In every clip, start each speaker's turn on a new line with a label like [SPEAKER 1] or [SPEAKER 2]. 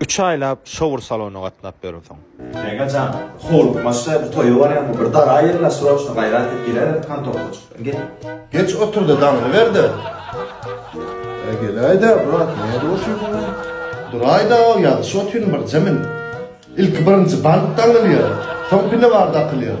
[SPEAKER 1] Üç aýlap
[SPEAKER 2] şowur salona gatnap ýörüňsoň. Meňe jan,
[SPEAKER 3] howlukmaçda bu toýa barýaňmy, bir dara ýerine sroçno gaýrat et, giräýerin kontorka çykdan, gel. Geç otur-da,
[SPEAKER 1] daňylyberde. Äý, geläý-dä, brat, nädip oturýaň ol? Duraý-da-ow, ýazyşyp otyryn birje men. Ilki birinji bant daňylýar, soň pine bar dakylýar.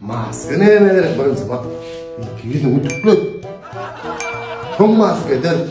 [SPEAKER 3] Maska
[SPEAKER 1] näme gerek birinji bak. Ýüzüňi tükle. Soň maska ederis.